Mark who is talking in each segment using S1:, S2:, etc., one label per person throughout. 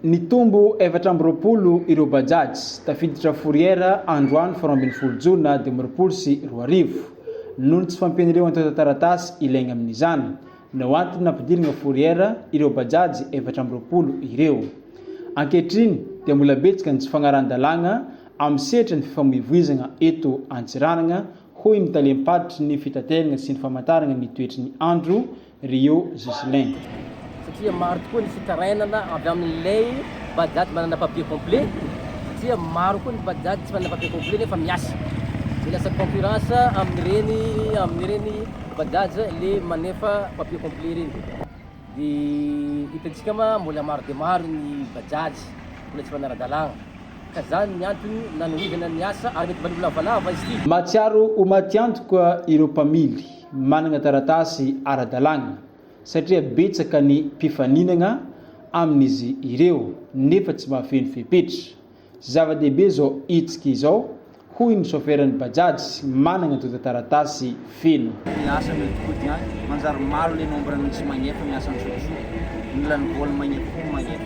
S1: Nitombo efatra amby roapolo ireo Bajaj tafiditra Fourrière androany folo ambin'ny folo jona dimy amby roapolo sy roa arivo. Noho ny tsy fampian'ireo antontan-taratasy ilaigna amin'izany no antony nampidirigna Fourrière ireo Bajaj efatra amby roapolo ireo. Ankehitriny dia mbola betsaka ny tsy fagnarahan-dalàgna amin'ny sehatra ny fifamoivoizagna eto Antsiranana, hoy ny talem-paritry ny fitateragna sy ny famantaragna ny toetry ny andro, Rio Ghislain. satria
S2: maro tokoa ny fitarainana avy amin'ilay bajaj manana papier complet satria maro koa ny bajaj tsy manana papier complet nefa miasa dia lasa concurrence amin'ireny amin'ireny bajaj le manefa papier complet ireny dia hitantsika ma mbola maro dia maro ny bajaj mbola tsy manara-dalàna ka zany ny antony nanohizana ny asa ary mety mba nilavalava izy ity. Mahatsiaro ho maty
S1: antoka ireo mpamily. manana taratasy ara-dalàna satria betsaka ny mpifaninana amin'izy ireo nefa tsy mahafeno fepetra. Zava-dehibe izao hetsika izao, hoy ny soferan'ny Bajaj manana antontan-taratasy feno. Ny asa mety koty any,
S3: manjary malo le nombre ny tsy magnefa ny asan'ny sotrosotra, mila ny vol magnefa koa ny magnefa.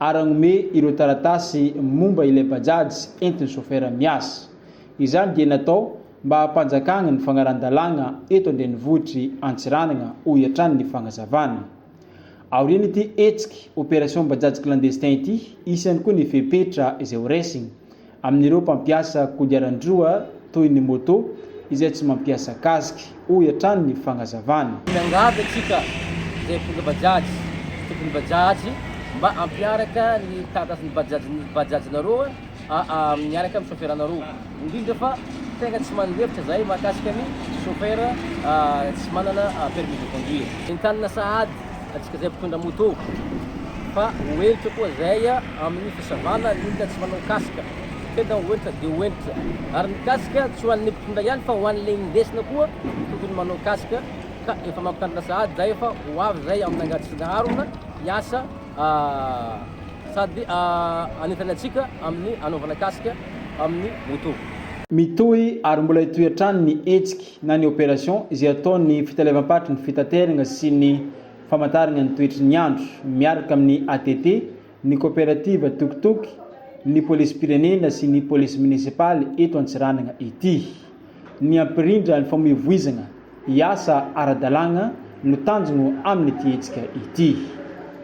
S1: ary hanome ireo taratasy momba ilay Bajaj entin'ny chauffeur miasa. Izany dia natao mba hampanjakana ny fanarahan-dalàna eto an-drenivohitr'i Antsiranana, hoy hatrany ny fanazavana. Aorian'ity hetsika Opération Bajaj Clandestin ity, hisy ihany koa ny fepetra izay ho raisina. Amin'ireo mpampiasa kodiaran-droa toy ny moto izay tsy mampiasa casque, hoy hatrany ny fagnazavana. Miangavy antsika
S2: izay mpitondra bajaj sy tompon'ny bajaj mba hampiaraka ny taratasin'ny bajajin'ny bajajinareo miaraka amin'ny chauffer-nareo, indrindra fa tegna tsy mandefitra zahay mahakasika ny chauffer tsy manana permis de conduire. Entanina sahady Antsika izay mpitondra moto fa ho henitra koa izay amin'ny fisavana ny olona tsy manao casque. Tena ho henitra dia ho henitra. Ary ny casque tsy ho an'ny mpitondra ihany fa ho an'ilay indesina koa tokony manao casque ka efa mampitandrina sahady izay efa ho avy izay amin'ny angady sy ny harona hiasa sady hanentana antsika amin'ny hanaovana casque amin'ny moto. Mitohy
S1: ary mbola hitohy hatrany ny hetsiky na ny opération, izay ataon'ny fitalevam-paritry ny fitaterana sy ny famantarana ny toetry ny andro, miaraka amin'ny ATT, ny koperativa Tuk-Tuk, ny polisim-pirenena sy ny polisy minisipaly eto Antsiranana ity. Ny hampirindra ny famoivoizana hiasa ara-dalàna no tanjona amin'ity hetsika ity.